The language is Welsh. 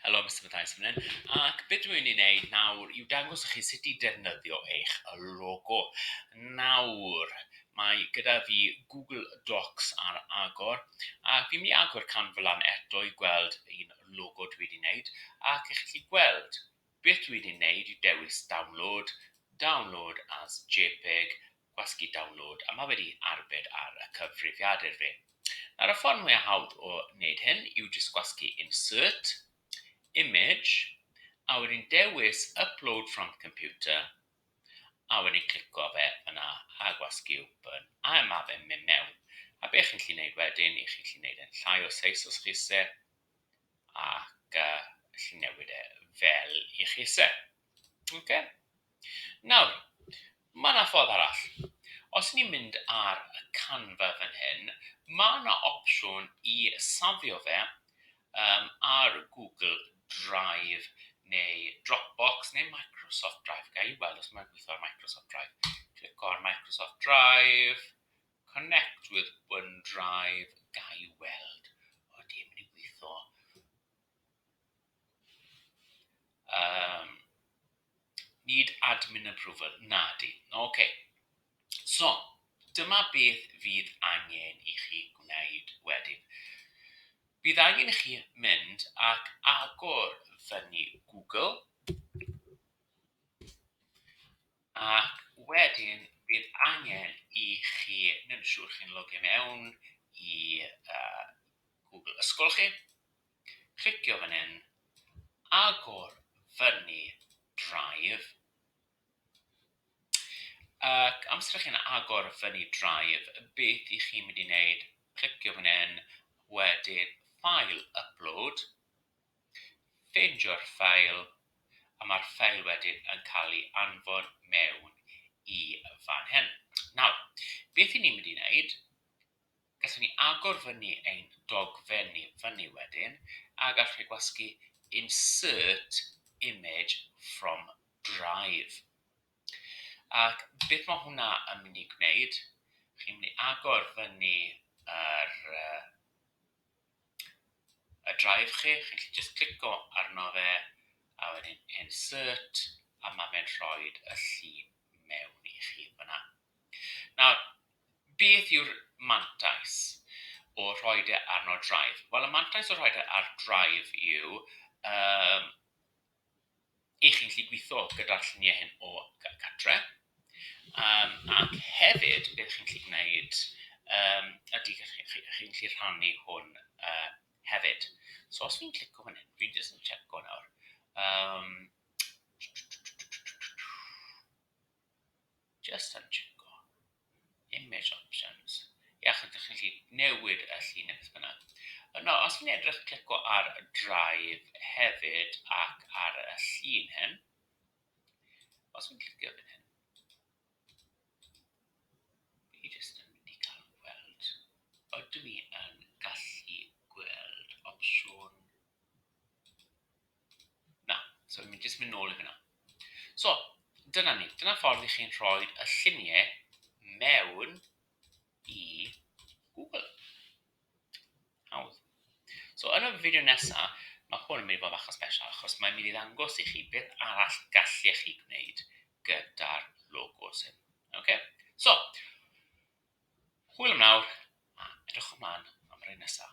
Helo Mister Mathias fan hyn, ac be dwi'n mynd i wneud nawr yw dangos i chi sut i defnyddio eich logo. Nawr, mae gyda fi Google Docs ar agor, a fi'n mynd i agor canflan eto i gweld un logo dwi wedi wneud, ac i chi gweld Beth dwi'n ei wneud yw dewis Download, Download as jpeg, Gwasgu Download, a mae wedi arbed ar y cyfrifiadur fi. Nawr y ffordd mwyaf hawdd o wneud hyn yw jyst gwasgu Insert, Image, a wedyn dewis Upload from Computer, a wedyn clico fe yna a gwasgu Open, a mae fe'n mynd mewn. A be chi'n gallu wneud wedyn, i chi'n gallu wneud e'n llai o seis os chi isie, ac yy wnes i newid e fel i chi isie. Oce? Nawr, mae yna ffordd arall. Os ni'n mynd ar y Canva fan hyn, mae yna opsiwn i safio fe um, ar Google Drive neu Dropbox neu Microsoft Drive. Ga i weld os mae'n gweithio ar Microsoft Drive. Clic ar Microsoft Drive. Connect with OneDrive Ga i weld os dim yn gweithio. Um, need admin approval. Na di. OK. So, dyma beth fydd angen i chi gwneud wedyn. Bydd angen i chi mynd ac agor fyny Google. Ac wedyn bydd angen i chi wneud yn siŵr chi'n logio mewn i Google ysgol chi, clicio fan hyn, agor fyny Drive, ac amser chi'n agor fyny Drive, beth i chi'n mynd i wneud, clicio fan hyn, wedyn File, Upload, Ffeindio'r ffeil, a mae'r ffeil wedyn yn cael ei anfon mewn i fan hyn. Nawr, beth i ni'n mynd i wneud, gallwn ni agor fyny ein dogfen ni fyny wedyn, a gallwn ni gwasgu insert image from drive. Ac beth mae hwnna yn mynd i gwneud, chi'n mynd i agor fyny yr uh, y drive chi, chi'n gallu jyst clico arno fe a wedyn insert a ma fe'n rhoi y llun mewn i chi fan'na. Nawr, beth yw'r mantais o rhoi e arno drive? Wel y mantais o rhoi e ar drive yw yym i chi'n gallu gweithio gyda'r lluniau hyn o gartre, um, ac hefyd beth chi'n gallu gwneud um, ydy chi'n chi, chi, chi gallu rhannu hwn uh, hefyd. So os fi'n clico fan hyn, fi'n jyst yn checo nawr. Um, Jyst yn tseco. Image options. Iach ydych chi'n gallu newid y llun neu beth bynnag. Yno, os fi'n edrych, clico ar y drive hefyd ac ar y llun hyn. Os fi'n clicio fan hyn, fi jyst yn mynd i gael gweld. Ydw i yn gallu gweld opsiwn Na, so mi jyst mynd nôl i fyna. So, dyna ni. Dyna ffordd i chi'n rhoi y lluniau mewn i Google. Hawdd. So, yn y fideo nesaf, mae hwn yn mynd i fod achos special, achos mae'n mynd i ddangos i chi beth arall gallech chi gwneud gyda'r logos hyn. Okay? So, Hwyl am nawr a edrychwn mlaen am yr un nesa.